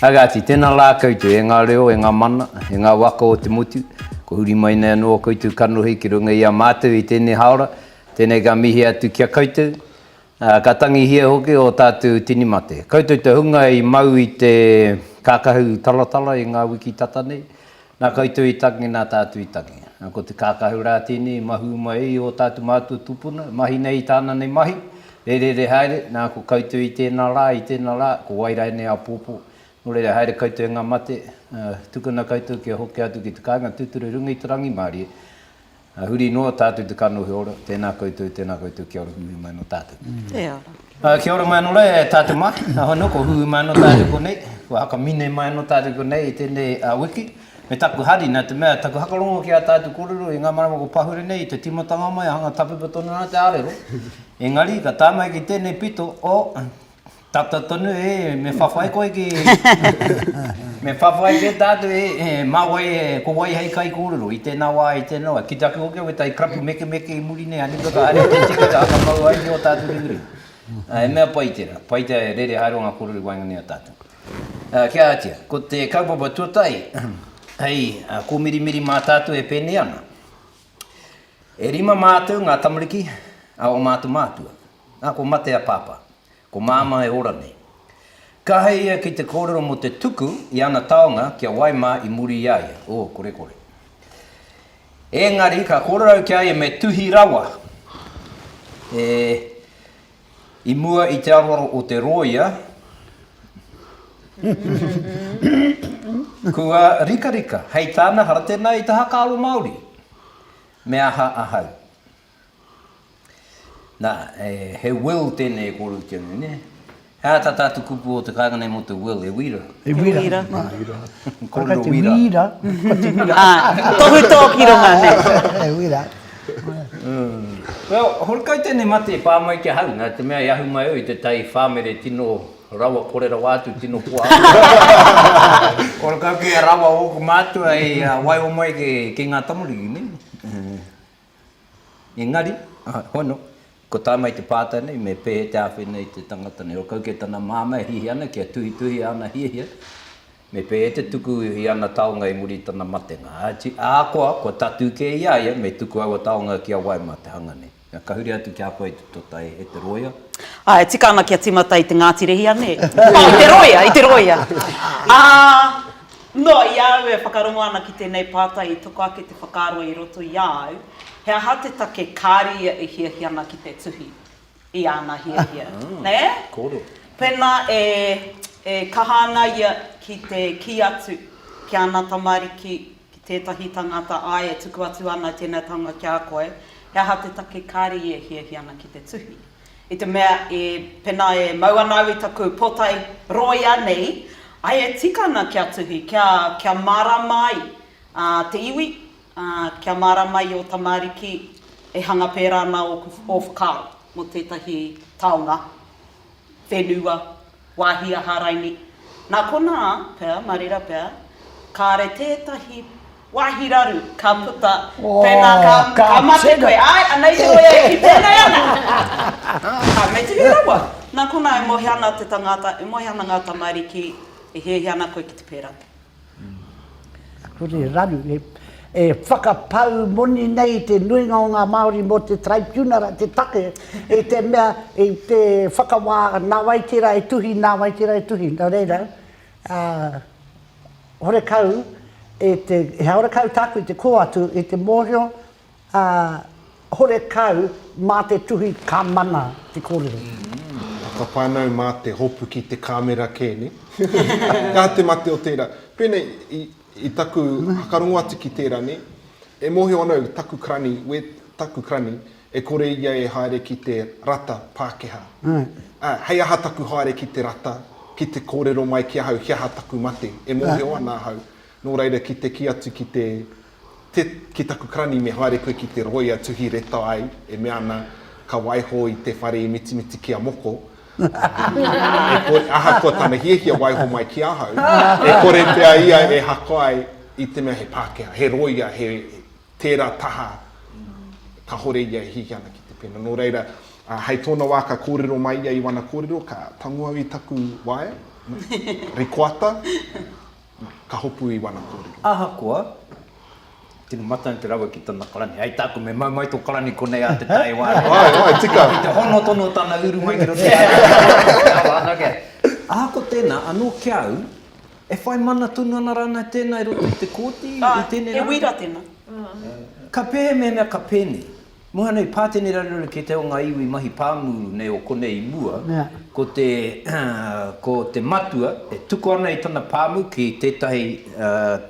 Agati, tena la koutou e nga reo, e nga mana, e nga waka o te motu, kua huri mai nei ano koutou kanohi ki runga i a matou i tenei haora, tenei ka mihi atu ki a koutou, Ā, ka tangihia hoki ō tātou tini mate. Koutou te hunga i mau i te kākahu talatala i ngā wiki tata nei, nā koutou i tangi, nā tātou i tangi. Ā, ko te kākahu rā tēnei i mahū mai i ō tātou mātua tūpuna, mahi nei i tāna nei mahi, e rere haere, nā, ko koutou i tēnā rā, i tēnā rā, ko wai rā ēnei āpōpō, nō reira haere koutou e ngā mate, ā, tukuna koutou kia hoki atu ki te kāinga tūturu i runga i te rangimārie, Ā, huri noa tātou te kanohi ora, tēnā koutou, tēnā koutou, kia ora, huihui mai anō tātou. Te ara. Ā, kia ora mai anō rā e tātou mā, ā, hoi nō, kua huihui mai anō tātou konei, kua hakamine mai anō tātou konei i tēnei wiki, me taku hari, nā te mea, taku whakarongo ki ā tātou kōrero i ngā marama kua pahure nei, i te tīmatanga mai, hanga tapipa tonu ana te ārero, engari, ka tae mai ki tēnei pito o. Tata tonu e, me whawhai koe ki me whawhai kē tātou e, e, mā wai e, ko wai hei kaikōrero i tēnā wā, i tēnā wā. Ki te ake hoki au e tai krapu mekemeke i muri nei, āni katoa, haere te tiki ka whakamau ai ki ō tātou ringaringa. Ā, he mea pai tērā, pai te rere haere o ngā kōrero i waenganui i a tātou. Ā, kia ātia, ko te kaupapa tuatahi, hei kōmirimiri mā tātou e pēnei ana, e rima mātou ngā tamariki a ō mātou mātua. Nā, kua mate a Pāpā. Ko Māmā e ora nei. Ka hei ia ki te kōrero mō te tuku i ana taonga kia wai mā i muri i a ia. Oh, kore kore. Ēngari, ka kōrero ki a ia me tuhi rawa e i mua i te aroaro o te rōia, kua rikarika hei tāna hara tēnā i te haka aro Māori. Me aha ahau? Nā, he will tēnei e kōreroti ana nei, nē? He aha tā tātou kupu o te kāinga nei mō te will, he wīra? He wīra. Kōrero wīra. Āe, tohutō ki runga, nē. He wīra. Well, horekau tēnei mate i pā mai ki ahau, nā te mea i ahu mai au i te tai whāmere tino rawa kore rawa atu, tino koa atu. Horekau kia rawa ōku mātua i waiho mai ki ngā tamariki, nē? Engari, hono, ko tae mai te pātai nei, me pēhea te āwhi nei te tangata nei? Ō kau kē tana māmā e hiahia ana kia tuhituhia ana hiahia, me pēhea te tuku i ana taonga i muri i tana matenga? Ahakoa, kua tatū kē i a ia, me tuku aua taonga ki a wai mā te hanga nei? Ka huri atu ki a koe i te tota e te rōia. Ā, e tika ana kia tīmata i te Ngāti Rehia, nē? Ā, i te rōia, i te rōia. Ā. Nō, i a au e whakarongo ana ki tēnei pātai i toko ake te whakaaro i roto i a au, he aha te take kāre ia e hiahia ana ki te tuhi i āna hiahia, nē? Pēnā e kaha ana ia ki te kī atu ki āna tamariki, ki tētahi tangata, āe e tuku atu ana tēnei taonga ki a koe, he aha te take kāre ia e hiahia ana ki te tuhi? I te mea, i, pēnā e mau ana au i taku pōtae rōia nei, ai e tika ana kia tuhi, kia, kia mārāma ai, ā, te iwi, ā, kia mārāma ai ō tamāriki e hanga pērā ana ōku, ō whakaaro mō tētahi taonga whenua Wāhi a Hāraini. Nā konā pea, mā reira pea, kāre tētahi wāhi raru ka puta, pēnā ka, ka mate koe. Āe, anei te wai e kitea nei ana. Ā, me tere rawa. Nā konā e moe ana te tangāta, e moe ana ngā tamariki, e hiahia ana koe ki te pērā. Kore raru e whakapau moni nei te nuinga o nga Maori mo te Taraipiunara te take i te mea i te whakawā nawaiti ra e tuhi nawaiti ra e tuhi no reira a horekau e te he horekau taku i te ko atu i te mohio ā, horekau mā te tuhi ka mana te kōrero. Whakawhānau mā te hopu ki te kāmera kē, nē? Ka te mate o tērā. Pēnei i, i taku whakarongo atu ki tērā, nē? E mōhio ana au, taku karani, wē, taku karani, e kore ia e haere ki te rata Pākehā. Ā, hei aha taku haere ki te rata, ki te kōrero mai ki ahau he aha taku mate, e mōhio ana ahau, nō reira ki te kī atu ki te Te, ki taku karani me haere koe ki te roia tuhi reta ai e mea ana ka waiho i te whare i mitimiti ki a moko e kore, ahakoa tana hiahia waiho mai ki ahau e kore pea ia e haka ai i te mea he Pakeha, he roia, he tera taha kahore ia e hiahia ana ki te pena. No reira, a, hei tona wa ka korero mai ia i wana korero ka tango au i taku waea, rikoata, ka hopu i wana korero. Ahakoa, tino matane te rawe ki tana karani, hei taku me mau mai to karani konei a te tae ware. Ae, ae, tika. Ki te hono tono tana uru mai ki roto i a ia, ki te awa ana kea. Ahakoa tena, ano ki a au, e whai mana tonu ana ranei tena i roto i te kooti i tenei rangi? He wira tena. Ka pehemehemea ka peni? Muha nei, pātene raruraru kē te o ngā iwi mahi pāmu nei o konei i mua, ko te, ko te matua e tuku ana i tana pāmu ki tētahi,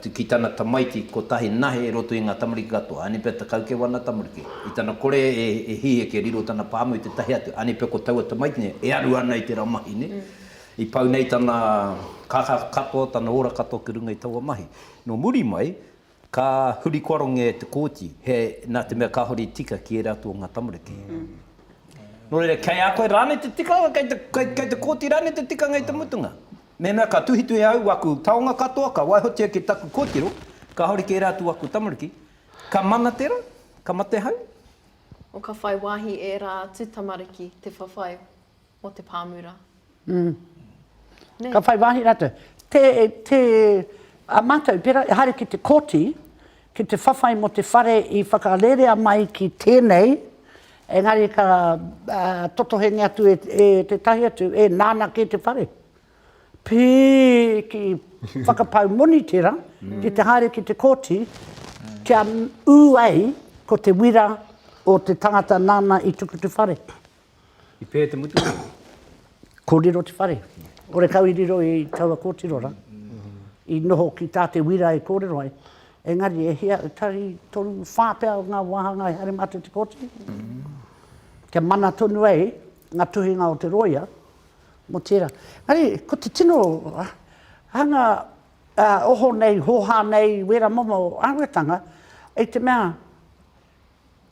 ki tana tamaiti kotahi nahe i roto i ngā tamariki katoa, aini pea tekau kē wana tamariki, i tana kore e hiheke e riro tana pāmu i tētahi atu, aini pea ko taua tamaiti nei e aru ana i tērā mahi nei, i pau nei tana kākā katoa, tana ora katoa ki runga i taua mahi. Nō muri mai, Ka huri koaronge e te Kōti, he, nā te mea kāore i tika ki ērā atu o ngā tamariki. Nō reira, kei a koe rānei te tikanga, kei te, kei, kei te Kōti rānei te tikanga i te mutunga. Mēnā ka tuhituhi au aku taonga katoa, ka waihotia ki taku kōtiro, kāore ki ērā atu o aku tamariki, ka mana tērā, ka mate hau. O ka whai wāhi ērā atu tamariki te whawhai o te pāmura. Nē? Ka whai wāhi rātou. Te, te, a mātou pērā, e haere ki te kōti, ki te whawhai mō te whare i whakarerea mai ki tēnei, engari ka uh, totohengi atu e, e tētahi atu, e nāna kē te whare. Pī ki whakapau moni tērā, mm. ki te haere ki te kōti, kia ū ai ko te wira o te tangata nāna i tukutu whare. I pē te mutunga? Kōrero te whare. Kore kau i riro i taua kōtiro rā. I noho ki tā te wira e kōrero ai. Engari e hia, tari toru, whā pea o ngā wāhanga i haere mā te te kōti. Kia mana tonu ai ngā tuhinga o te rōia mō tērā. Engari, ko te tino hanga oho nei, hōhā nei, wēra momo āhuatanga, i te mea,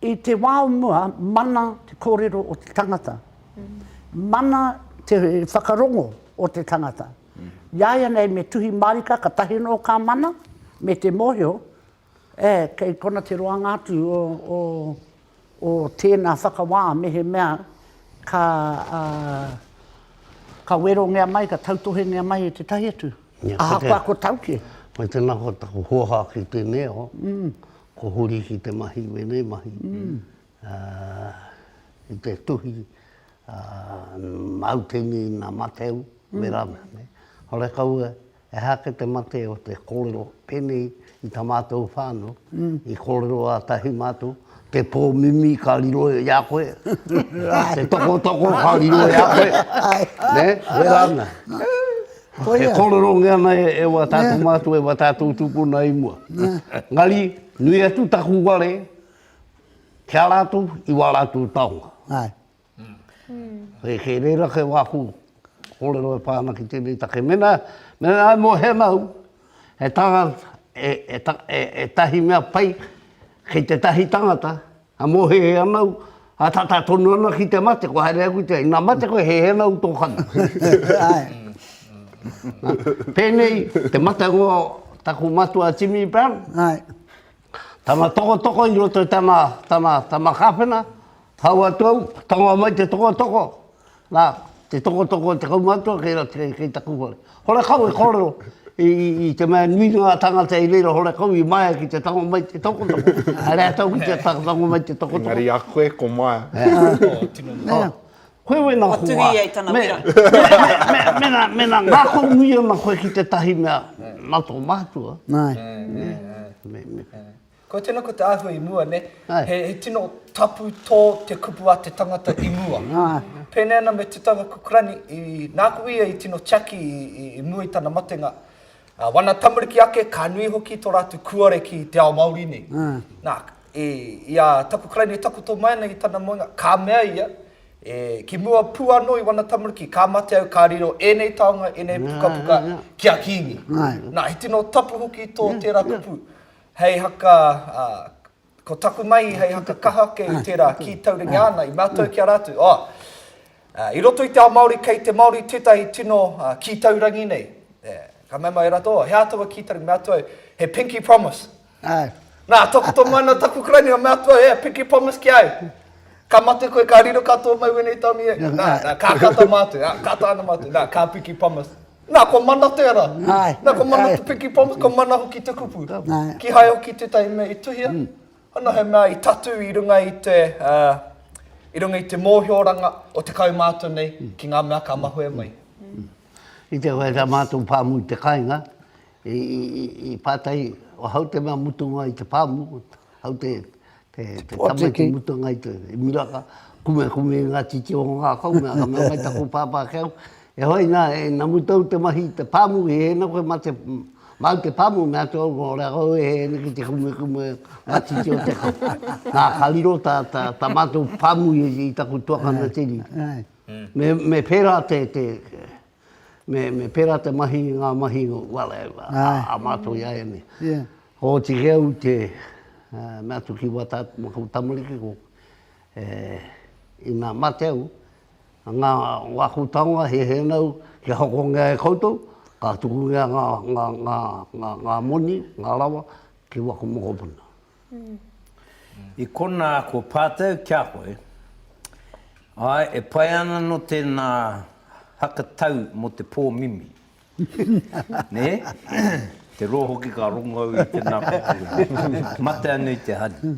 I te wā o mua, mana te kōrero o te tangata. Mana te whakarongo o te tangata. Iāianei me tuhi mārika katahi anō ka mana, me te mōhio, e, kei kona te roanga atu o, o, o tēnā whakawā mehemea ka, ā, ka werongia mai, ka tautohengia mai e tētahi atu. Ahakoa ko tau kē. Koe tēnā koutou hōhā ki tēnei o. Ko huri ki te mahi wēnei mahi i te tuhi mautini na mateu me rana nei. Hore kaua he aha ke te mate o te korero penei i ta matou whānau i korero a tahi matou te po mimi ka riro i a koe te tokotoko ka riro i a koe ne me rana. E kōrero nge ana e wa tātou mātua, e wa tātou tūpuna i mua. Engari, nui atu taku ware ki a rātou i wā rātou taonga. Āe. Kei reira kei wāku kōrero e pā ana ki tēnei take. Mēnā, mēnā e mōhia ana au, he tangata, e tahi mea pai kei tētahi tangata, A mōhehe ana au, a tata tonu ana ki te mate, kua haere aku i te whare, ina mate koe, hehe ana au i tō kana. Pēnei te matengo o taku matua Jimmy Brown, tana tokotoko i roto i tana, tana, tana kāwhena, hau atu au, tonga mai te tokotoko, Na, te tokotoko o te kaumatua kei roto kei, kei taku hoa. Horekau e korero i, i, i te mea nui ngā tangata i reira horekau i Maia ki te tango mai te tokotoko. Haere a tau ki te tango mai te tokotoko. Engari a koe ko Maia. Oh, tino nui. Oh. Koe wena hoa. Atu ia i tana wera. Mena, mena ngako nui ana koe ki tetahi mea, na to matua. Nai. Me, me. Kua tino ko te ahua i mua ne. He tino tapu to te kupu a te tangata i mua. Pēnei ana me Te Taura Kukurani, i, nāku ia i tino tiaki i mua i tana matenga. Ā, wana tamariki ake, ka nui hoki to rātou kuare ki te ao Māori nei. Nā, i, i a Takukurani e takoto mai ana i tana moenga, ka mea ia, e, ki mua pu anō i wana tamariki, ka mate au ka riro ēnei taonga, ēnei pukapuka ki a Kingi. Nā, he tino tapu hoki to tērā kupu. Hei haka, ā, ko taku mahi hei haka kaha ake i tērā kī tauringa ana, i mātau ki a rātou, ā, i roto i te ao Māori kei te Māori tētahi tino kī taurangi nei, ē, ka mea mai rātou, ō, he ā taua kī taurangi, me ātou au, he pinky promise. Āe. Nā, takoto mai ana taku karaini, ā, me ātou au, he pinky promise ki a au, ka mate koe, ka riro katoa mai wēnei tāone i a au, nā, nā, kākata mātou, ā, kākata ana mātou, nā, ka pinky promise. Nā, kua mana te ara. Nā, kua mana te pikipoma, kua mana hoki te kupu. Kīhai hoki tētahi mea i tuhia, ana he mea i tatū i runga i te, i runga i te mōhioranga o te kaumātua nei ki ngā mea ka mahue mai. I te wā rā mātou pāmu i te kāinga, i pātai, o hau te mea mutunga i te pāmu, hau te Te tama ki muta ngai te miraka, kume kume i nga titi o nga kau, me nga mea mai taku papa ke au, e hoi na, e namu tau te mahi te pamu, i ena koe ma te mau te pamu, mea atu au, o rea kau e ena ki te kume kume nga titi o te kau. Na, ka riro ta, ta, ta matou pamu i taku tuakana te riri. Me, me pera te, te, me, me pērā te mahi, ngā mahi, well, a, a, a mātou i a ianei. Yeah. Hōti ke au te uh, mea tu ki wata ma kou tamariki ko, e, ina mate au, ngā, ngā kou taonga he he nau, kia hoko ngā e koutou, ka tuku ngā, ngā, ngā, ngā, ngā, ngā moni, ngā rawa, ki waku mokopuna. I konā kua pātau ki a koe, āe, e pai ana anō tēnā haka tau mō te pō mimi, nē? Te roa hoki ka rongo au i tēnā kōkiri. Mate anō i te hari.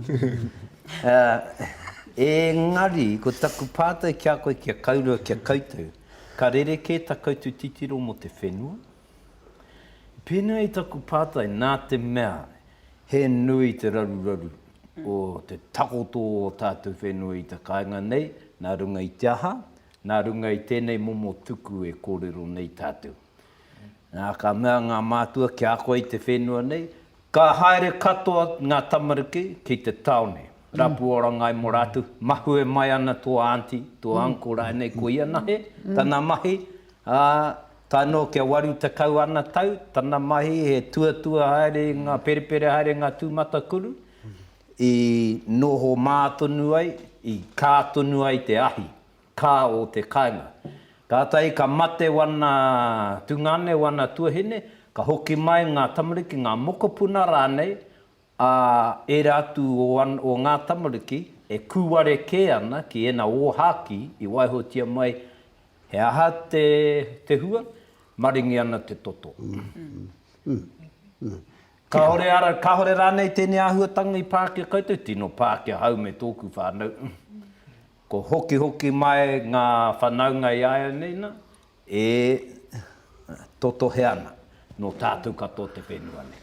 Engari, ko taku pātau ki a koe kia kaurua ki a koutou, ka rerekē tā koutou titiro mō te whenua, Pēnā i taku pātai, nā te mea he nui te raruraru o te takoto o ō tātou whenua i te kāinga nei, nā runga i te aha? Nā runga i tēnei momo tuku e kōrero nei tātou. Nā, ka mea ngā mātua kia ako i te whenua nei, ka haere katoa ngā tamariki ki te tāone, rapu oranga ai mō rātou, mahue mai ana tō aunty, tō uncle rānei, koia nahe tana mahi, ā, Tae noa kia waru tekau ana tau tana mahi he tuatua haere i nga perepere haere i nga tumatakuru i noho ma tonu ai, i ka tonu ai te ahi, ka o te kainga. Katahi ka mate wana tungane, wana tuahine, ka hoki mai nga tamariki, nga mokopuna ranei ā, ērā atu o ngā tamariki e kūware kē ana ki ēnā ōhākī i waihotia mai he aha te hua, maringi ana te toto. Kāore rānei tēnei āhuatanga i pā ki a koutou? Tino pā ki ahau me tōku whānau. Kua hokihoki mai ngā whanaunga i āianei nā, E totohe ana, nō tātou katoa te whenua nei.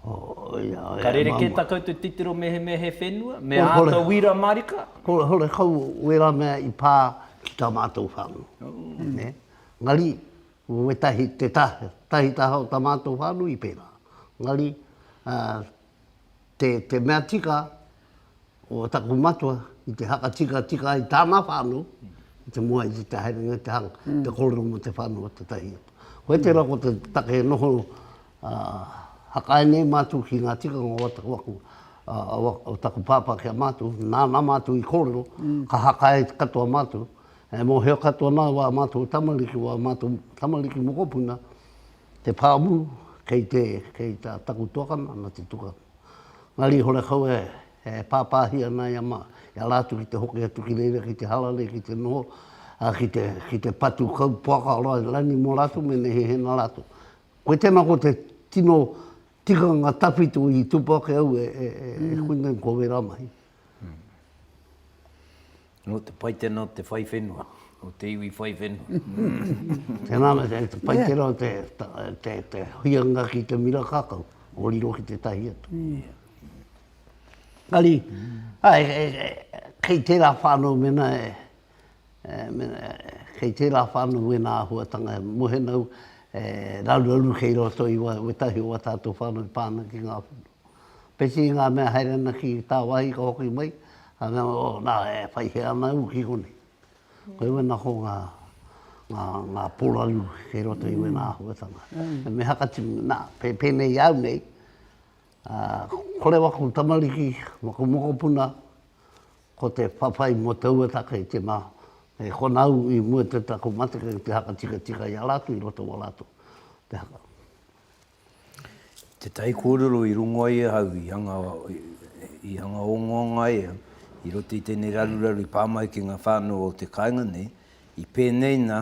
Ka rerekē tā koutou titiro mehemea he whenua, me āta wīra mārika? Hore kau wērā mea i pā ki tā mātou whānau. Engari, wētahi, tētahi taha o tā mātou whānau i pērā. Engari, te, te mea tika o taku matua i te hakatikatika ai tāna whānau, i te moa i te te haerenga i te hanga, mm. te kōrero mo te whānau o te tahi. Koe te rako te take e noho uh, hakae nei mātou ki ngā tikanga o taku aku, uh, o taku pāpā ki a mātou, nāna mātou i kōrero, mm. ka hakae katoa mātou, e mohio katoa nā wā mātou tamariki, wā mātou tamariki mokopuna, Te pāmu, kei te, kei tā taku tuakana, nā te tuka. Ngā rīhore kau e, e pāpāhi ana i a mā, i a rātou ki te hoki atu ki reira, ki te hala nei, ki te noho, ā, ki te, ki te patu kau poaka o rani mō rātou me nehehena rātou. Koe tēnā ko te tino tikanga tawhito i tupu ake au e, e, e, e koinei ko wērā mahi. Nō te Paitena o te whai whenua, o te iwi whai whenua. Tēnā me te Paitena o te huianga ki te mira kakau, o riro ki te tahi atu. Ari, kei tērā whānau mena, kei tērā whānau wēnā āhuatanga e mohe nau, e raruraru kei roto i wētahi o wā tātou whānau pāna ki ngā whenua. Pēti ngā mea haere ana ki tāwāhi ka hoki mai, ka mea, oh, nā, e whai hē ana au ki konei. Koe wēnā ko ngā, ngā, ngā pōraru kei roto i wēnā āhuatanga. He mea ka tini, nā, pē, pēnei i au nei, ā, kore waku tamariki, waku mokopuna, ko te whawhai mō taua take i tēnā, e kona au i mua te taku matenga ki te haka tikatika i a rātou i roto i wā rātou te haka. Te tai kōrero i rongo ai e hau, i hanga, i hanga ongaonga ai au, i roto i tēnei raruraru i pā mai ki ngā whānau o te kāinga nei, i pēnei nā,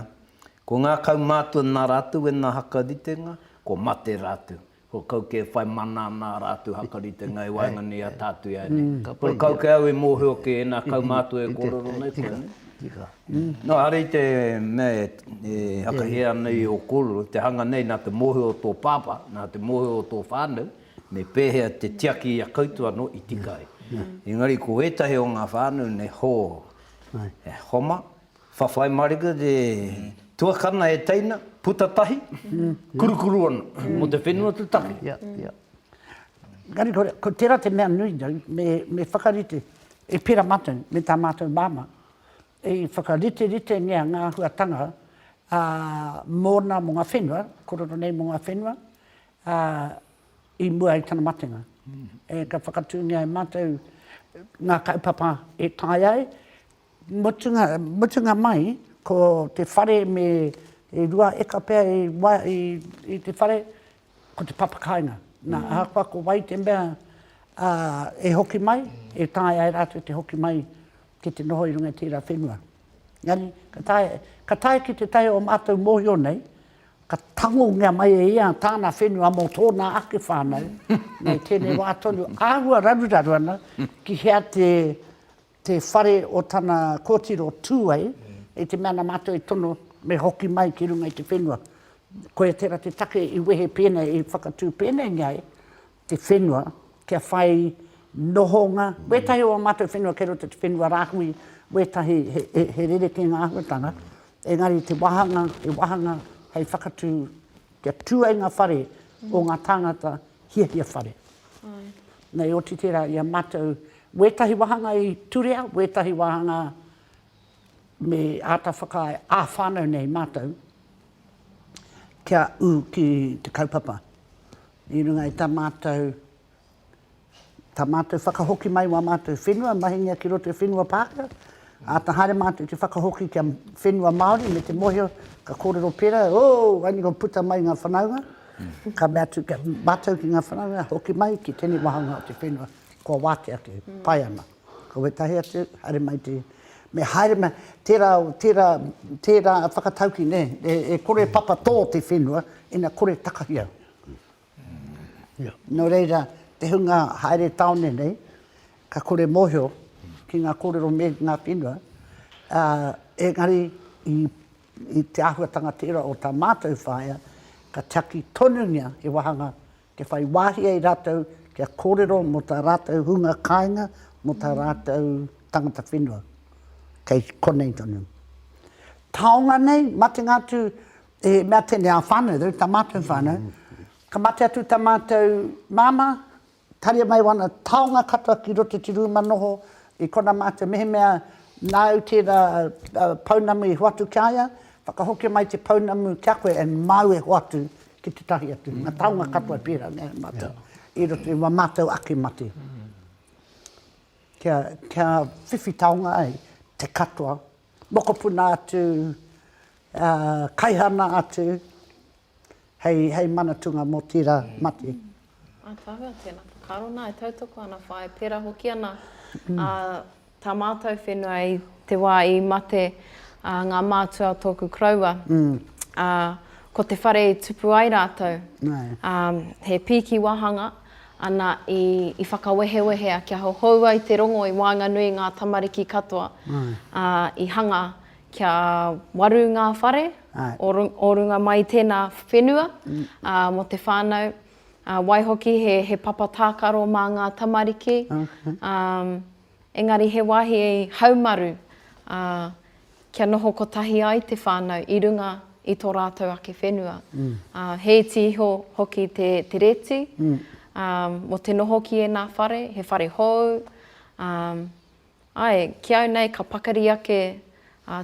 ko ngā kaumātua nā rātou e nā hakaritenga, kua mate rātou. Kua kau kē whai mana ana ā rātou hakaritenga i waenganui i a tātou i a ianei. Kua kau kē au e mōhio ki ēnā kaumātua e kōrero nei koa nei. Nō hari i te mea e hakahea nei ō kōrero, te hanga nei nā te mōhio o tō pāpā, nā te mōhio o tō whānau, me pēhea te tiaki i a koutou anō i tika ai. Engari ko ētahi o ngā whānau nei, hō, e homa, whawhai mārika te tuakana e teina, puta tahi, kurukuru ana, mō te whenua te take. Ia, ia. Engari ko tērā te mea nui nei, me whakarite, e pērā mātou me tā mātou māmā, i whakariteritengia ngā āhuatanga mōna, mō ngā whenua, kōrero nei mō ngā whenua, i mua i tana matenga. Ka whakatūngia e mātou ngā kaupapa e tae ai, mutunga, mutunga mai, ko te whare me rua eka pea i te whare, Ko te papakāinga. Nā, ahakoa ko wai te mea e hoki mai, e taea e rātou te hoki mai ki te noho i runga i tērā whenua. Engari, ka tae, ka tae ki te tae o mātou mōhio nei, ka tangongia mai e ia tāna whenua mō tōna ake whānau, nei tēnei wā tonu, āhua raruraru ana ki hea te te whare o tana kōtiro tū ai, i te mea nā Mātou i tono me hoki mai ki runga i te whenua. Koia tērā te take i wehe pēnei, i whakatū pēneingia ai te whenua kia whai nohonga, wētahi o ā Mātou whenua kei roto i te whenua rāhui, wētahi he rerekē ngā āhuatanga, engari te wāhanga, he wāhanga hei whakatū Kia tū ai ngā whare o ngā tāngata hiahia whare. Nei oti tērā i a mātou, wētahi wāhanga i turea, wētahi wāhanga me āta whakaae ā-whānau nei mātou kia ū ki te kaupapa i runga i tā mātou. Tā mātou whakahoki mai wā mātou whenua mahingia ki roto i whenua Pākehā, āta haere mātou i te whakahoki kia whenua Māori me te mōhio ka kōrero pērā, ooh, wāini kua puta mai ngā whanaunga, ka mea atu kia mātou ki ngā whanaunga, hoki mai ki tēnei wāhanga o te whenua, kua wātea atu, pai ana. Ko wētahi atu, haere mai te, me haere mai, tērā, tērā, tērā whakatauki, nē, e kore papa tō te whenua, ina kore takahia. Nō reira, te hunga haere tāone nei, ka kore mōhio ki ngā kōrero me ngā whenua, ā, engari i, i te āhuatanga tērā o tā mātou whaea, ka tiaki tonungia he wāhanga kia whai wāhi ai rātou kia kōrero mō tā rātou hunga kāinga, mō tā rātou tangata whenua. Kei konei tonu. Taonga nei, matenga atu, He mea tēnei ā whānau, they're tā mātou whānau. Ka mate atu tā mātou māmā, haria mai wana taonga katoa ki roto i te rūma noho, i kona mātou mehemea nāu tērā pounamu i hoatu ki a ia, whakahokia mai te pounamu ki a koe and māu e hoatu ki tētahi atu. Ngā taonga katoa e pērā nei mātou i roto i wā mātou ake mate. Kia, kia whiwhi taonga ai te katoa, mokopuna atu, Kaihana atu hei manatunga mo tira mate. Atawhai, tena whakaaro na e tautoko ana whai, pera hoki ana ta matou whenua i te wa i mate nga mātua o toku koroua, a ko te whare i tupu ai ratou, he piiki wahanga, ana i whakawehewehea kia hohoua i te rongo i waenganui i nga tamariki katoa, a i hanga Kia waru ngā whare o runga mai i tēnā whenua mō te whānau. Waihoki he papa tākaro mā ngā tamariki. Engari he wāhi haumaru kia noho kotahi ai te whānau i runga i tō rātou ake whenua. He iti iho hoki te rēti mō te noho ki ēnā whare, he whare hou, Āe, ki au nei ka pakari ake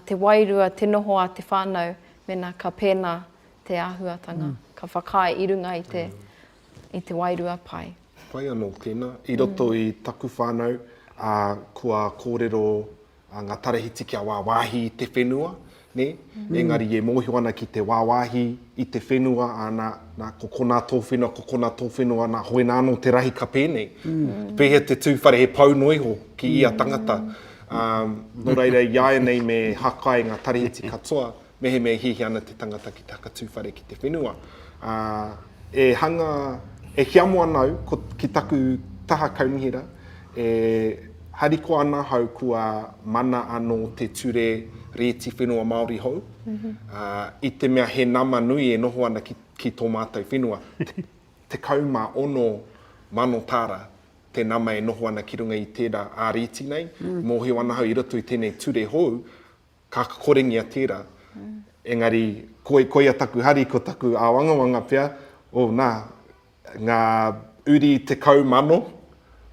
te wairua, te noho a te whānau mēnā ka pēnā te āhuatanga, ka whakaae i runga i te wairua pai. Pai anō tēnā. I roto i taku whānau, kua kōrero ngā tarahiti kia wāwāhi i te whenua, Nē? Engari e mōhio ana ki te wāwāhi i te whenua, ana, nā, ko konā tō whenua, ko konā tō whenua, nā, hoinā anō te rahi ka pēnei. Pēhea te tū whare he pau noa iho ki ia tangata. Ā, nō reira, iāianei me hakae ngā tarihiti katoa, mehemea e hiahia ana te tangata ki te hakatū whare ki te whenua. Ā, e hanga, e hiamo ana au, ko, ki taku taha kaunihera, E harikoa ana ahau kua mana anō te ture Rēti Whenua Māori hou, i te mea he nama nui e noho ana ki tō mātou whenua, 16 mano tāra te nama e noho ana ki runga i tērā ā-rēti nei, mōhio ana ahau i roto i tēnei ture hou, Ka kokoringia tērā. Engari, koi, koia taku hari, ko taku āwangawanga pea, oh, nā, ngā uri tekau mano,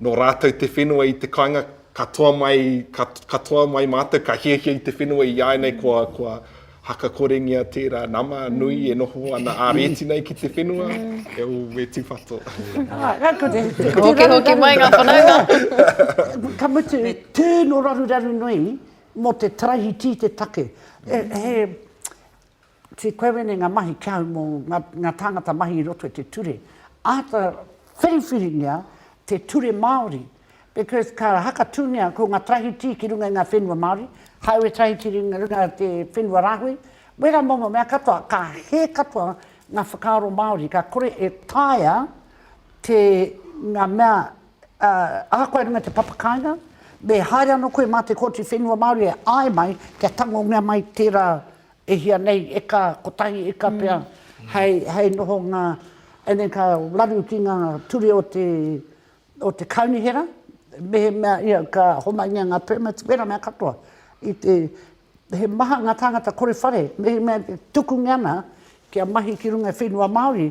nō rātou te whenua i te kāinga, katoa mai, ka, katoa mai mātou, ka hiahia i te whenua i āianei kua, kua haka koringia tērā nama nui e noho ana ā-rēti nei ki te whenua, e ō, e tūpato. Ā, ka kore. Hoki, hoki mai ngā whanaunga. Ka mutu, tū nō raruraru nui, Mō te taraihi tī te take. He tī koe wēnei ngā mahi ki ahau mō ngā tāngata mahi i roto i te ture. Āta whiriwhiringia te ture Māori because ka hakatūngia ko ngā taraihi tī ki runga i ngā whenua Māori, kāore taraihi tī ki runga i te whenua rāhui, wērā momo mea katoa, ka hē katoa ngā whakaaro Māori, ka kore e taea te ngā mea Ā, ahakoa runga te papa kāinga, me haere anō koe mā te Kōti Whenua Māori e āe mai kia tangongia mai tērā e hia nei, eka, kotahi eka pea, hei, hei nohonga, and then ka raru ki ngā ture o te, o te Kaunihera, mehemea ia ka homaingia ngā permits, wēra mea katoa. I te, he maha ngā tāngata kore whare, mehemea tukungia ana kia mahi ki runga i whenua Māori,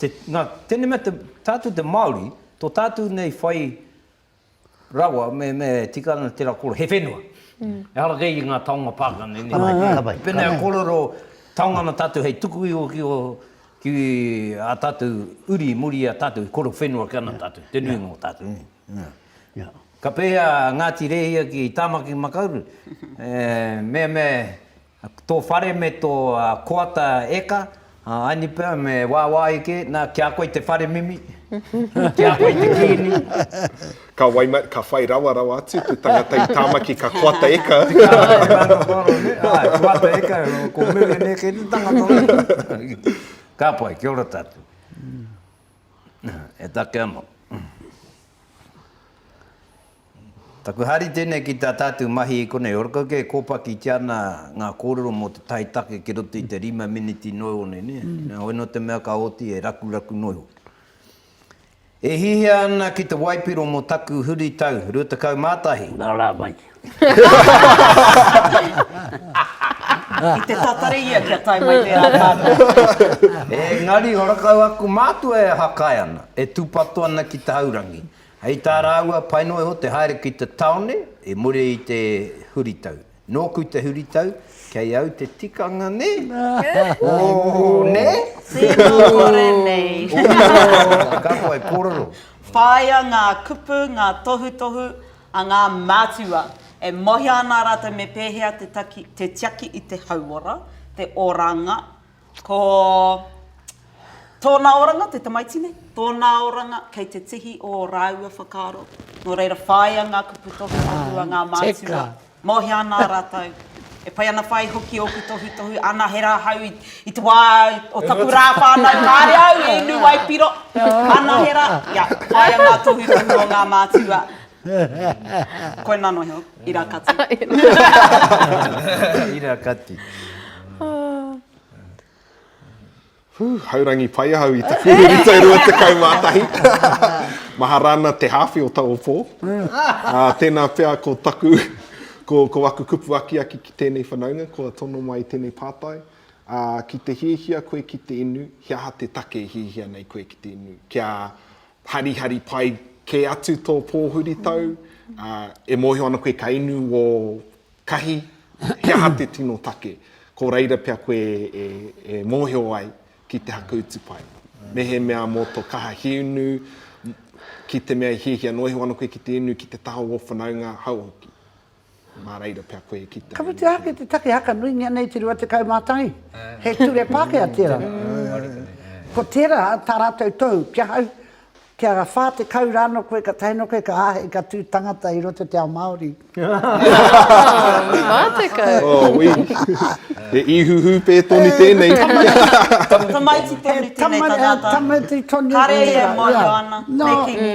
Te, nā, tēnei mea te, tātou te Māori, tō tātou nei whai rawa, me, me tika ana tērā kōrero, he whenua. Mm. Ehara kei i ngā taonga Pākehā nei. Ka pai, ka pai. Pēnei a kōrero, taonga ana tātou hei tuku iho ki o, ki a tātou uri muri a tātou, i kōrero whenua ki ana tātou, te nuinga o tātou. Yeah. Yeah. Ka pēhea a Ngāti Rēhia ki Tāmaki Makaurau? e, mea, mea, Tō whare me tō koata eka, aini pea me wāwāhi kē, nā, ki a koe te whare mimi, ki a koe te kīngi. Ka waima, ka whai rawa rawa atu te tangata i Tāmaki ka koata eka. Koata eka, ko Mimi nei kei te tangata nei. Ka pai, kia ora tātou. E take anō. Taku hari tēnei ki tā tātou mahi i konei. Ōrako kē, kōpakitia ana ngā kōrero mō te tae take ki roto i te rima miniti noa iho nei, nē? Nā, hoi nō te mea ka oti e rakuraku noa iho. E hihia ana ki te waipiro mō taku huritau 21. Nā rā mai. I te tatari ia kia tae mai tērā tātou. Engari, horakau aku mātua e hakai ana, e tūpato ana ki te haurangi. Hei tā rāua, pai noa iho te haere ki te tāone i muri i te huritau. Nōku te huritau, kei au te tikanga nē? Ooh, nē? Tēnā kore nei. Ooh, ka whai kōrero. Whāia ngā kupu, ngā tohutohu a ngā mātua. E mohia ana rātou me pēhea te tiaki i te hauora, te oranga, Ko tōna oranga, te tamaiti nei, tōna oranga kei te tihi ō rāua whakaaro, nō reira whāia ngā kupu tohutohu a ngā mātua. Mōhio ana rātou, e pai ana whai hoki ōku tohutohu, ana he rā hau i te wā o taku rā whānau, kāre au i inu waipiro, ana he rā, ia, whāia ngā tohutohu o ngā mātua. Koe nano iho, ira kati. Ira kati. Whū, haurangi pai ahau i te pūhuri tau rua tekau mā tahi. Mahara ana te hāwhi o taua pō. Tēnā pea ko taku, ko aku kupu akiaki ki tēnei whanaunga, kua tono mai tēnei pātai. Ki te hiahia koe ki te inu, he aha te take e hiahia nei koe ki te inu? Kia Harihari pai kē atu tō pōhuritau, ā, e mōhio ana koe ka inu ō kahi, he aha te tino take? Ko reira pea koe e, e mōhio ai ki te haka utu pai. Mehemea mō tō kaha he inu, ki te mea i hiahia noa iho ana koe ki te inu ki te taha o ō whanaunga, hau hoki. Mā reira pea koe e kitea. Ka whiti ake te take haka nuingia nei te 21. He ture Pākehā tērā. Ko tērā tā rātou tohu ki ahau, kia 40 rā anō koe ka tae noa koe ka āhei ka tū tangata i roto te ao Māori. Mā 40. Oh wī. He īhuhu pē tonu tēnei. Tamaiti tonu tēnei tangata. Tamaiti tonu tēnei. Kāre ia e mōhio ana, me kīngi.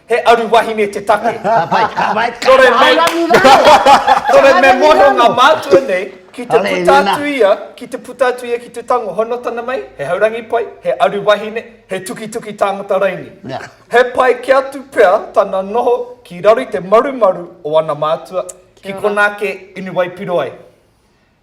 He aru wahine te take. Ka pai, ka pai. Nō reira, me, Aorangi raro. nō reira, me Aorangi moe raro. ngā mātua nei ki te Hale, puta nena. atu ia, ki te puta atu ia ki te tango. Hono tana mai, he haurangi pai, he aru wahine, he tukituki tāngata raini. Nā. He pai kē atu pea tana noho ki raro i te marumaru o ana mātua, ki Kia ora. konā kē inu waipiro ai.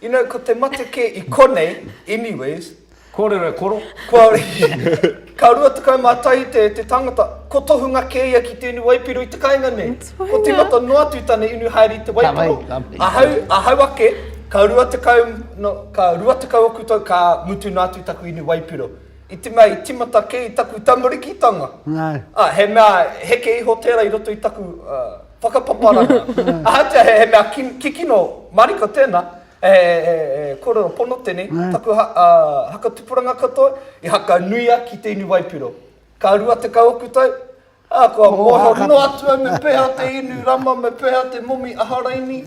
You know, ko te mate kē i konei, anyways. Kōrero e koro. Kua, ka rua tekau mā tahi te, te tangata, ko tohunga kē ia ki tēnei waipiro i te kainga nei. Ko timata noa atu tana inu haere i te waipiro. Ahau, ahau ake, ka rua tekau, no, ka rua tekau oku tau, ka mutu noa atu taku inu waipiro. I te mea i timata kē i taku tamarikitanga. Nā. Ā, he mea heke iho tērā i roto i taku, uh. Whakapaparanga. Ahatia he mea kikino mariko tēnā, he kōrero pono tēnei, taku hakatupuranga katoa i hakanuia ki te inu waipiro. Ka rua tekau oku tau, ā, kua mōhio noa atu au me pēhea te inu rama, me pēhea te momi aharaini.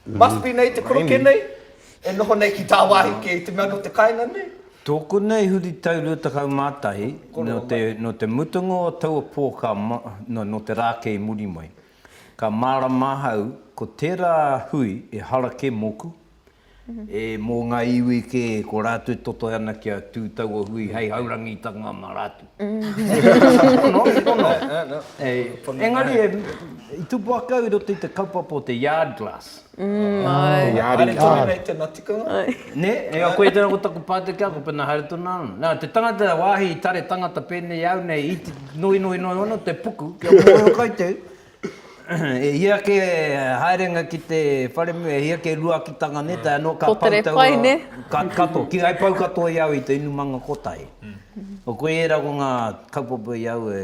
Must be nei te koroke nei. E noho nei ki tāwāhi kē i te mea nō te kāinga nei. Tōku nei huritau rua tekau mā tahi, nō te mutunga o taua pō ka, nō te rā kē i muri mai, ka mārama ahau ko tērā hui e hara kē mōku, e mō ngā iwi kē ko rātou e totohe ana kia tū taua hui hei haurangitanga mā rātou. Nō, nō, nō. Engari, i tū paku au i roto i te kaupapa o te yard glass. Mm, ah, ai. Te Ari. Ari tonu nei tēnā tikanga. Ai. Ne, e a koe tēnā ko taku pāteke ako pēnā haere tonu ana. Nā, te tangata wāhi i tare tangata pēnei au nei i te noi noi noi ono te puku kia mōhio kai te e hia ke haerenga ki te wharemu, e hia ke ruakitanga ne, tai anō ka pau tau pai, ne? Ka, kato, ki ai pau katoa i au i te inumanga kotahi. Mm. O koe era ko ngā kaupapa i au e,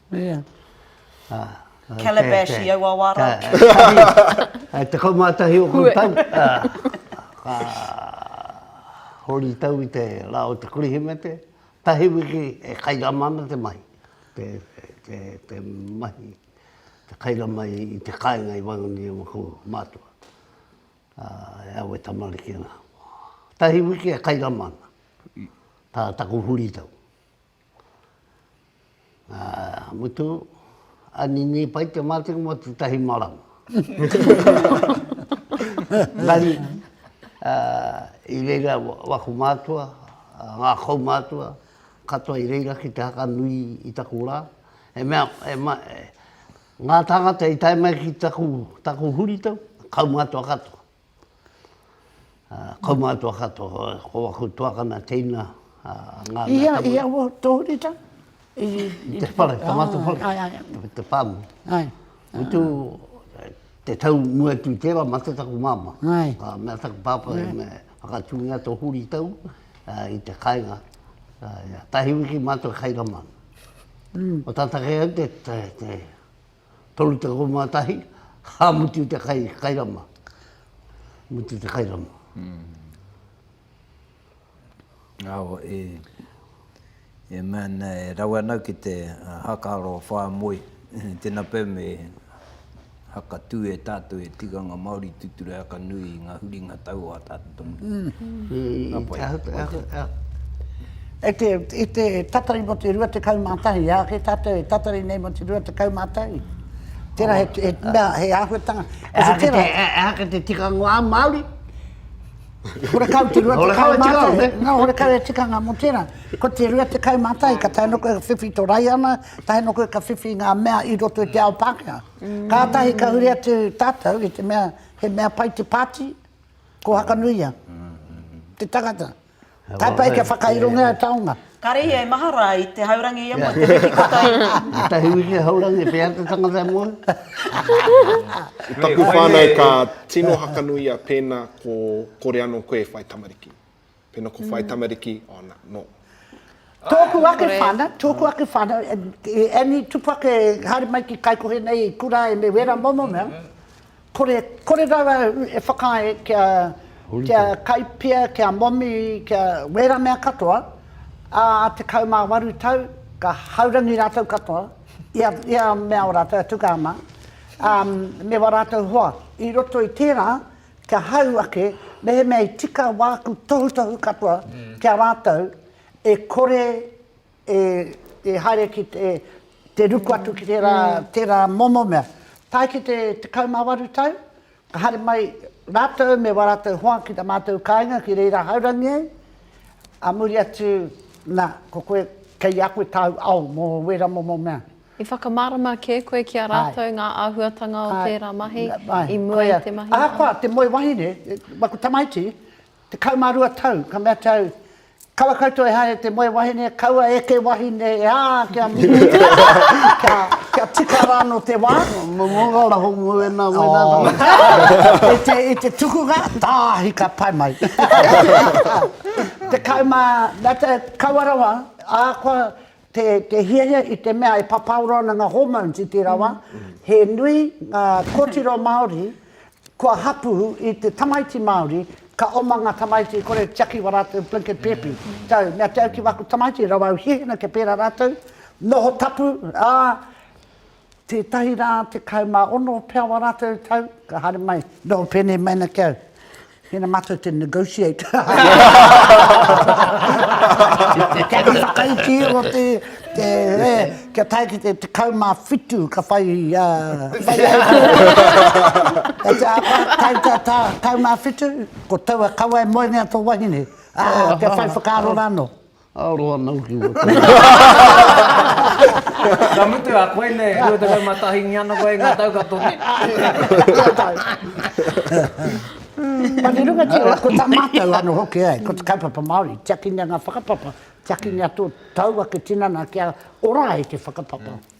Ia. Calabash i aua wā rā. Tahi, tekau mā tahi o kou tau, ka hori tau i te rā o te Kirihimete, tahi wiki e kairama ana te mahi, te mahi, te kairama i te kāinga i waenga nei i ngā kou mātua, e au e tamariki ana. Tahi wiki e kairama ana, tā taku huri tau. Mutu, a nini pai te matenga mo te tahi marama. Nani, i reira waku mātua, ngā kaumātua, katoa i reira ki te haka nui i taku rā. He mea, ngā tāngata i tae mai ki taku huritau, kaumātua katoa. Kaumātua katoa, ko aku tuakana teina, ngā mea tapu. I aua tōrita? I te whare, te matu whare, te whāmu. Utu, te tau mua atu i tērā, mate taku māmā. Ka mea taku pāpā, me whakatūngia tō huritau i te kāinga. Tahi wiki mātou kai rama. Ko tātake au te. 31, ka mutu te kai, kai rama. Mutu te kai rama. Awa, e, e mea ana, e rawe ana ki te haka aro whāmoe. Tēnā pea me haka tū e tātou he tikanga Māori tūturu haka nui i ngā huringa tau o ā tātou. I te tatari mō te 21, e āke tātou e tatari nei mō te 21. Tērā he mea, he āhuatanga. E āke te tikanga o ā Māori. Horekau te 21. Nō, horekau e tikanga mō tērā. Ko te 21, ka tae noa koe ka whiwhi tō Raiana, tae noa koe ka whiwhi ngā mea i roto i te ao Pākehā. Kātahi ka huri atu tātou i te mea, he mea pai te pāti. Ko Hakanuia, te tangata. Kai pai kia whakairongia e taonga. Kare ia e maha ra i te haurangi ia mo te wiki katoa i nga. Etahi wiki haurangi pea te tangata e moe. I taku whanau ka tino Hakanuia pena ko kore ano koe e whai tamariki. Pena ko whai tamariki, oh na, no. Tōku ake whānau, tōku ake whānau, e Annie Tupake, haere mai ki Kaikohe nei i kura ai me wēra momo mea, kore, kore rawa e whakaae kia, kia kaipia, kia momi, kia wēra mea katoa, ā, a tekau mā waru tau, ka haurangi rātou katoa, i a, i a mea o rātou, a Tukahama, ā, me wā rātou hoa. I roto i tērā, Kia hau ake, mehemea i tika wāku tohutohu katoa ki a rātou, e kore e haere ki te ruku atu ki tērā momo mea. Tae ki te 18 tau, ka haere mai rātou me wā rātou hoa ki tā mātou kāinga ki reira haurangi ai, ā muri atu, nā, ko koe, kei a koe tāu ao mō wērā momo mea. I whakamārama kē koe ki a rātou ngā āhuatanga o tērā mahi i mua i te mahi? Ahakoa te moe wahine, aku tamaiti, tekau mā rua tau, ka mea au, Kaua koutou e haere te moe wahine, kaua eke wahine, ā, kia mutu, kia tika rānō te wā. Momoga raho mō ēnā, mō ēnā tamaiti. I te tukunga, tāhi ka tae mai. Tekau mā, mea au, kaua rawa, ahakoa, Te, te hiahia i te mea e papaoro ana nga hormones i tera wa, he nui nga kotiro Maori kua hapu i te tamaiti Maori, ka oma nga tamaiti i kore tiaki wa ratou blinket pepi, tau, mea te au ki waku tamaiti rawa au hiahina kia pera ratou, noho tapu, a. Tētahi rā, tekau mā ono pea wā rātou tau, ka haere mai. Nō, pēnei mai ana ki au. Mēnā mātou te negotiate. Kei te whakaiti o te, te, e, kia tae ki te tekau mā whitu ka whai, a, whai au ki au. Te āwha, tae ki a tā, tekau mā whitu, ko taua kawa e moenga tō wahine. Ā, kia whai whakaaro rānō. Ā, roa ana hoki ua tau. Ka mutu a koe nei, 21 ngi ana koe i nga tau ka toki. Nga tau. Ma te runga tino la, ko ta matou ano hoki ai, ko te kaupapa Maori, tiakingia nga whakapapa, tiakingia to tau ake tinana kia ora ai te whakapapa.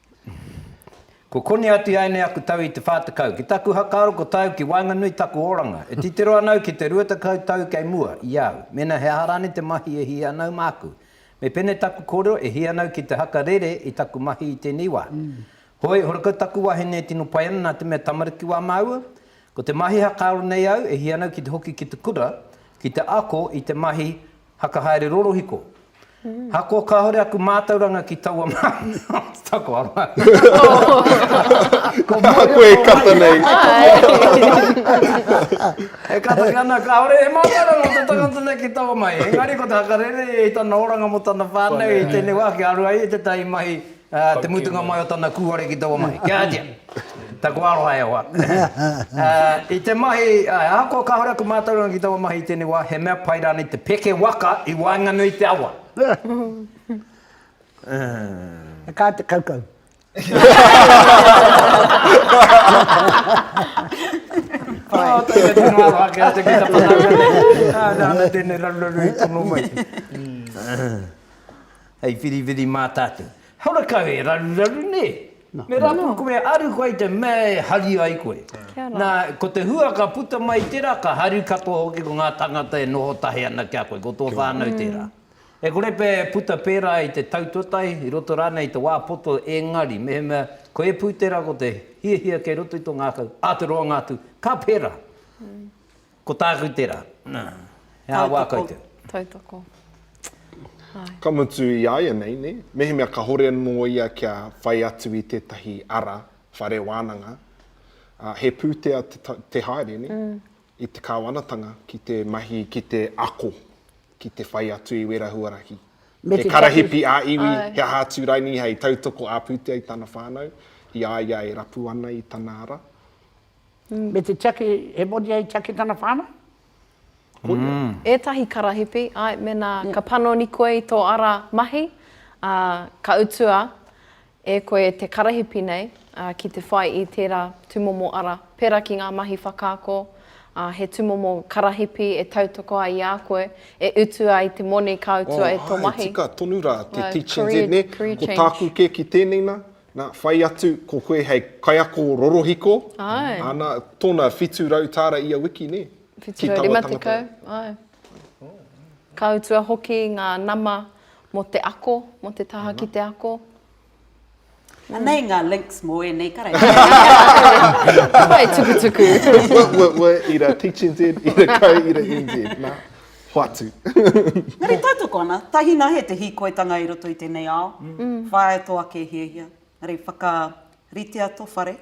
Ko Koni atu ia enei aku tau i te wha tekau. Ki taku hakaaro ko tau ki waenganui taku oranga. E titiro ana au ki te rua tekau tau kei mua, i a au. Mena he aha rane te mahi e hia ana au maku. Me pene taku korero e hia ana au ki te haka rere i taku mahi i tenei wa. Hoi, horakau taku wahine e tino pai ana na te mea tamariki wa maua. Ko te mahi hakaaro nei au e hia ana au ki te hoki ki te kura, ki te ako i te mahi Haka haere rorohiko. Hako kahore aku mātauranga ki taua māmio. Tako aroha. Ko Mohi koe e kata nei. E kata ki ana kahore he mātauranga o te tangata nei ki taua mahi. Engari ko te hakarere i tana oranga mo tana whanau i tenei wa kia aru ai i tetahi mahi Ā te mutunga mai o tana kūare ki taua mahi. Kia ātia. Taku aroha e hoa. Ā, i te mahi, ā, ahakoa kāore aku mātauranga ki taua mahi i tēnei wā, he mea pai rānei te peke waka i waenganui i te awa? Ā. Ka te kaukau. Ā, tēnei tonu aroha ki a te Pita Panaurele. Ā, nāna tēnei raruraru i tono mai. Ā. Hei whiriwhiri mā tātou. Haora kau e raruraru nē. Me rapu koe me aru koe i te mea e hari ai koe. Nā, ko te hua ka puta mai tērā, ka haru katoa hoki ko ngā tāngata e noho tahi ana ki a koe, ko tō whānau tērā. E kore pea e puta pērā i te tau tuatahi, i roto rānei i te wā poto, engari, mehemea ko ēpū tērā ko te hiahia kei roto i tō ngākau, ā te roanga atu, ka pērā. Ko tāku tērā. He aha wā koutou? Tautoko. Āe. Ka mutu i āianei, nē? Mehemea ka hore anō ia kia whai atu i tētahi ara whare wānanga, ā, he pūtea te, te haere, nē? I te kāwanatanga ki te mahi, ki te ako, ki te whai atu i wērā huarahi. Me te tapu. He karahipi ā-iwi, he aha atu raini hei tautoko ā-pūtea i tana whānau, i a ia e rapu ana i tana ara. me te tiaki, he moni hei tiaki tana whānau, koia. Ētahi karahipi, āe, mēnā ka panoni koe i tō ara mahi, ā, ka utua e koe te karahipi nei, ā, ki te whai i tērā tūmomo ara, pērā ki ngā mahi whakaako, ā, he tūmomo karahipi e tautoko ai i a koe, e utu ai te moni ka utua e tō mahi. Āe, tika tonu rā te teaching there, nē, ko tāku kē ki tēnei nā, Na, whai atu ko koe hei kaiako rorohiko, ana, tona whitu rau tāra ia wiki, nē? Whitu rau rima tekau, āe. Ka utua hoki ngā nama mō te ako, mō te taha ki te ako. Anei ngā links mō ēnei karakia. Whai tukutuku. Wē, wē, wē, ira teachNZ, ira kau, ira NZ, nā. Hoatu. Engari tautoko ana, tahina he te hīkoitanga i roto i tēnei ao, whāia tō ake hiahia. Engari whakaritea tō whare,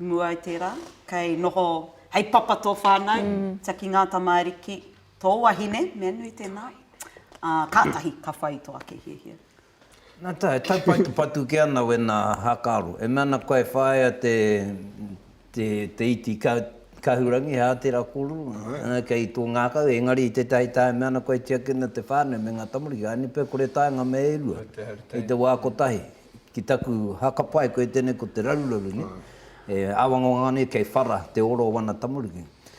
i mua i tērā, kei noho hei papa tō whānau, tiaki ngā tamāriki, tō wahine, mea nui tēnā, ā, kātahi ka whai i tō ake hiahia. Nā te taupatupatu kē ana wēnā hākaro. E mea ana koe e whāia te iti kahurangi, he ātera kōrero kei tō ngākau, engari i tētahi taha e mea ana koe e tiaki ana te whānau me ngā tamariki, haere pea kore taenga me e rua i te wā kotahi. Ki taku hakapae koe tēnei ko te raruraru nei, e āwangawanga nei kei whara te ora o ana tamariki.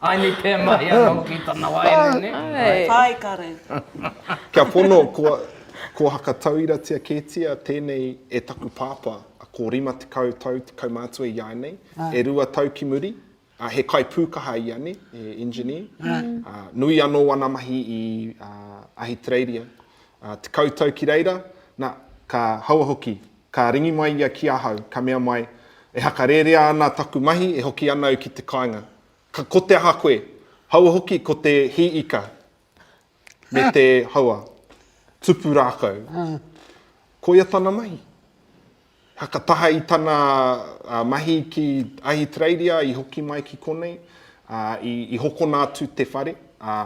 Aini pea mahi ana hoki tana waeine ne. Ae. Ae kare. Kia pono kua kua hakatauiratia ketia tenei e taku papa a ko rima tekau tau te kaumātua i a nei e rua tau ki muri a he kai pukaha ia ne he engineer a nui ano ana mahi i a Ahitereiria a tekau tau ki reira na ka haua hoki Ka ringi mai ia ki ahau, ka mea mai, E hakarērea ana taku mahi e hoki ana au ki te kāinga. Ka, ko te aha koe? Haua hoki ko te hī ika me te, haua, tupu rākau. Koia tana mahi. Haka taha i tana mahi ki Ahitereiria i hoki mai ki konei, ā, i, i hokona atu te whare, ā,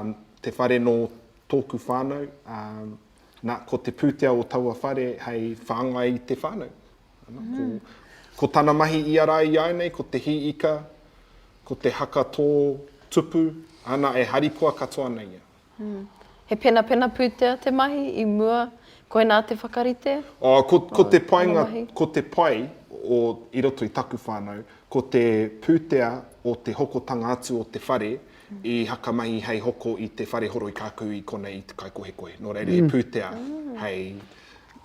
te whare nō tōku whānau, ā, Na, ko te pūtea o taua whare hei whāngai i te whānau. Ana, ko, ko tana mahi ia rā i āinei, ko te hī ika, ko te haka tō tupu, ana, e harikoa katoa nei ia. He penapena pūtea te mahi i mua, koinā te whakarite? Oh, ko, ko te painga, ko te pai o, i roto i taku whānau, ko te pūtea o te hokotanga atu o te whare, I hakamahi hei hoko i te whare horoi kākou i konei i te kaikohekohe, nō reira he pūtea hei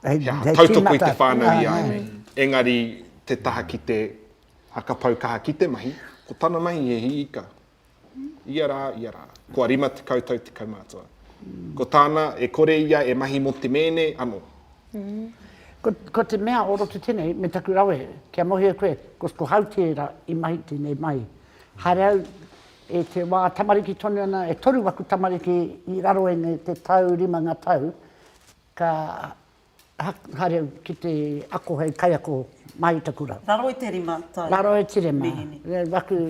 tautoko i te whānau i a au nei. Engari te taha ki te whakapau kaha ki te mahi, ko tana mahi he hī ika. Ia rā, ia rā, kua rima tekau tau te kaumātua. Ko tāna, e kore ia e mahi mō te mēne anō. Ko te mea o roto tenei me taku rawe kia mohio e koe, ko Hau tēra i mahi tenei mahi. Haere au e te wā tamariki tonu ana, e toru aku tamariki i raro e nei te tau rima ngā tau, ka haere au ki te ako hei kaiako mai i taku rau. Raro i te rima tau mehemea. Raro i te rima,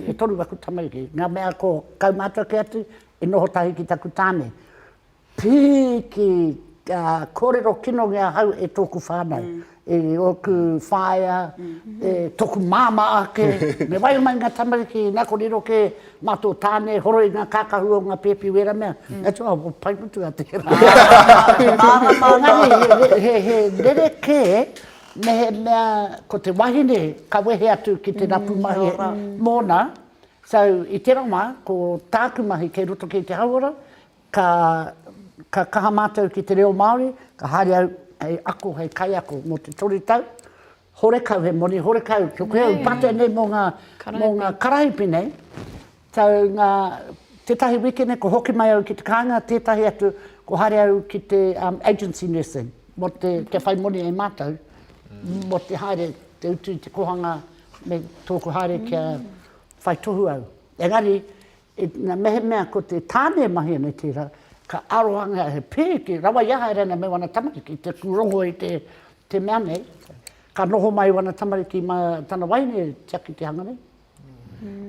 e toru aku tamariki, ngā mea ko kaumātua kē atu, i noho tahi ki taku tāne. Pīki, ka kōrero kinongi ahau e tōku whānau, e ōku whaea, e tōku māmā ake, me waia mai ngā tamariki, nā ko riro kē mā tō tāne e horoi ngā kākahu o ngā pēpi wēra mea, atua pai mutu a te mārama. Engari he rerekē mehemea ko te wahine ka wehe atu ki te rapu mahi mōna, so i tērā wā ko tāku mahi kei roto kē i te hauora, Ka, ka kaha mātou ki te reo Māori, ka haere au hei ako, hei kaiako mō te toru tau, horekau, he moni horekau, kia koe au pātai nei mō ngā, mō ngā karahipi nei, tau ngā, tētahi wikene kua hoki mai au ki te kāinga, tētahi atu kua haere au ki te agency nursing, mō te, kia whai moni e mātou, mō te haere, te utu i te kōhanga me tōku haere kia whai tohu au. Engari, Ina mehemea ko te tāne e mahia nei tērā, ka arohangea he pēke rawa i a haere ana me wana tamariki te pūrongo i te mea nei, ka noho mai wana tamariki mā tana wahine e tiaki te hanga nei.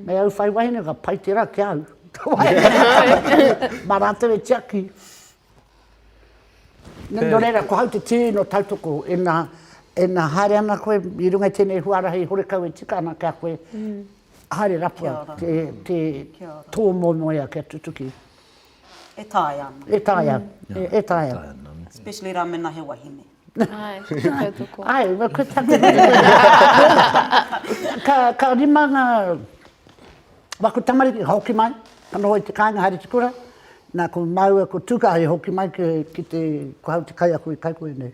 Me au whai wahine ka pai tērā ki a au, ka wahine mā rātou e tiaki. Nō reira, ko hau te tīno tautoko, ina haere ana koe i runga i tēnei huarahi horekau e tika ana ki a koe, Haere rapua te, te tō momoea kia tutuki. E taea ana. E taea, e, e taea. Especially rā mena he wahine. Ai, Ai, wa ko taku ka ka rima nga wa ko tamariki hoki mai, ka noho i te kāinga haere te kura, nā ko māua ko Tūkāhi hoki mai ki, ki te, ko au te kaiako i Kaikohe nei.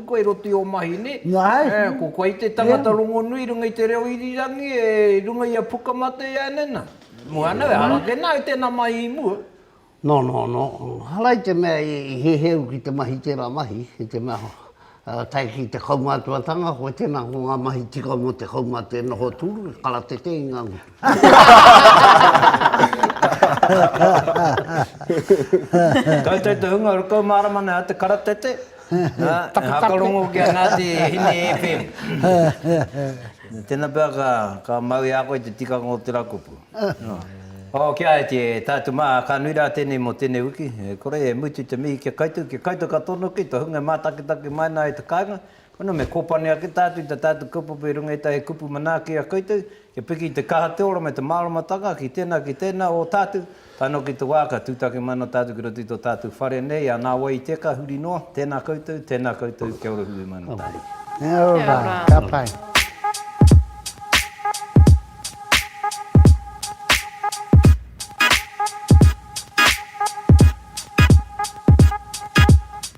Ko e roto i o mahi ne. Na hei. E ko koe te tangata rongonui runga i te reo irirangi e runga i a Pukamate ia ne na. Mo ana we hara ke na i tena mahi i mua. No no no hara i te mea i heuheu ki te mahi tera mahi i te mea tae ki te kaumātua tanga koe tena ko nga mahi tika mo te kaumate noho turu karatete i nga ngutu. Koutou te hunga rukau mārama nei a te karatete, ā, e hakarongo ki a Ngāti Hine FM. Tēnā pea ka mau i a koe te tikanga o te rakupu. Ō, ki a Eti, e tātou mā, ka nui rā tēnei mō tēnei wiki. E kore e mutu te mihi ki a koutou, ki a koutou katoa noa kei te hunga e mātakitaki mai ana e te kāinga, Koina me kōpani ake tātou i tā tātou kaupapa i runga i ētahi kupu manaaki a koutou, kia piki i te kaha te ora me te māramatanga ki tēnā, ki tēnā o tātou, tae noa ki te wā ka tūtaki mai ana tātou ki roto i tō tātou whare nei, a nā wai i tēka huri noa, tēnā koutou, tēnā koutou, kia ora hui mai ana tātou. Kia ora, ka pai.